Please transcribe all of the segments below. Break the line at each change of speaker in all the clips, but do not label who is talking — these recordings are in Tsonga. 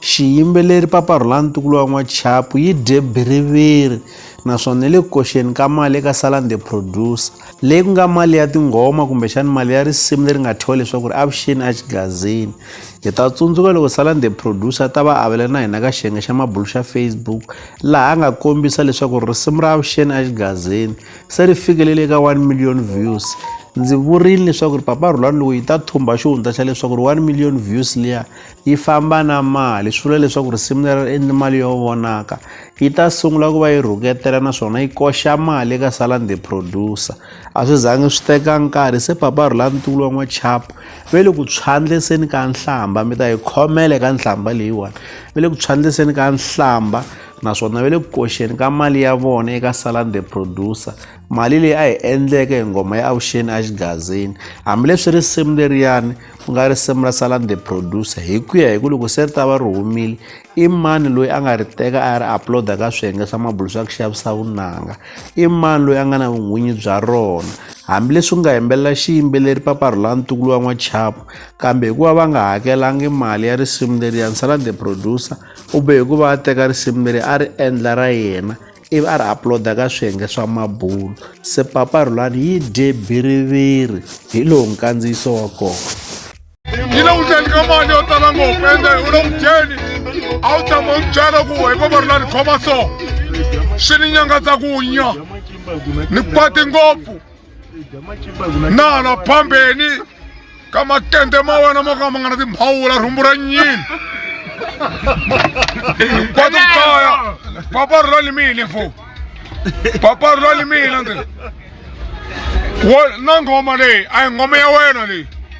Xiyimbeleri Papa Rhulani Ntukulu wa N'wachapu yi dye biriviri naswona ni le ku koxeni ka mali eka Salan the Producer, leyi ku nga mali ya tinghoma kumbexana mali ya risimu leri nga thyiwa leswaku ri Avuxeni Exigazini. Hi ta tsundzuka loko Salan the Producer a ta va avela na hina ka xiyenge xa mabulo xa Facebook laha a nga kombisa leswaku risimu ra Avuxeni Exigazini se ri fikelele eka 1 million views. Ndzi vurile leswaku ri Papa Rhulani loko yi ta thumba xihundla xa leswaku ri 1 million views liya yi famba na mali swi vula leswaku risimu leri ri endli mali yo vonaka yi ta sungula ku va yi rhuketela naswona yi koxa mali eka salande producer a swi zangi swi teka nkarhi se papa rhulantukulu wa n'wachapo ve le ku tshwandleseni ka nhlamba mi ta yi khomela eka nhlamba leyiwani ve le ku tshwandleseni ka nhlamba naswona ve le ku koxeni ka mali ya vona eka salande producer mali leyi a yi endleke hi nghoma ya avuxeni a xigazini hambileswi risimu leriyani ku nga risimu ra salan the producer hi ku ya hi ku loko se ri ta va ri humile i mani loyi a nga ri teka a ya ri uploada ka swiyenge swa mabulu swa ku xavisa vunanga i mani loyi a nga na vun'winyi bya rona hambileswi ku nga yimbelela xiyimbeleri paparhula ntukulu wa n'wachapo kambe hikuva va nga hakelangi mali ya risimu leri ya ni salan the producer u be hikuva a teka risimu leri a ri endla ra yena ivi a ri uploada ka swiyenge swa mabulo se papa rhulani yi dye biriviri hi lowu nkandziyiso wa kona yi le
ku dyeni ka mali yo tala ngopfu ende u le ku dyeni a wu tshama u byela ku hi papa rhulani khoma so swi ni nyangatsa ku nya ni kwati ngopfu nala phambeni ka makende ma wena mo ka ma nga na timhawula rhumbu ra nyini kwatu kaya papa ri lalimile fo papa ri lalimile ndzi wo na nghoma leyi a yi nghoma ya wena leyi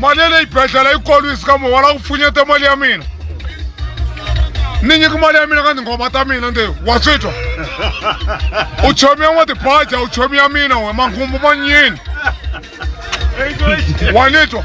mali ya le xibedhlele yi kolwisi ka mo wala ku pfunyete mali ya mina ni nyiki mali ya mina ka tinghoma ta mina ndi wa swi twa u chomiya n'wa tibaja u chomiya mina we manghumbu ma nyini wa ni twa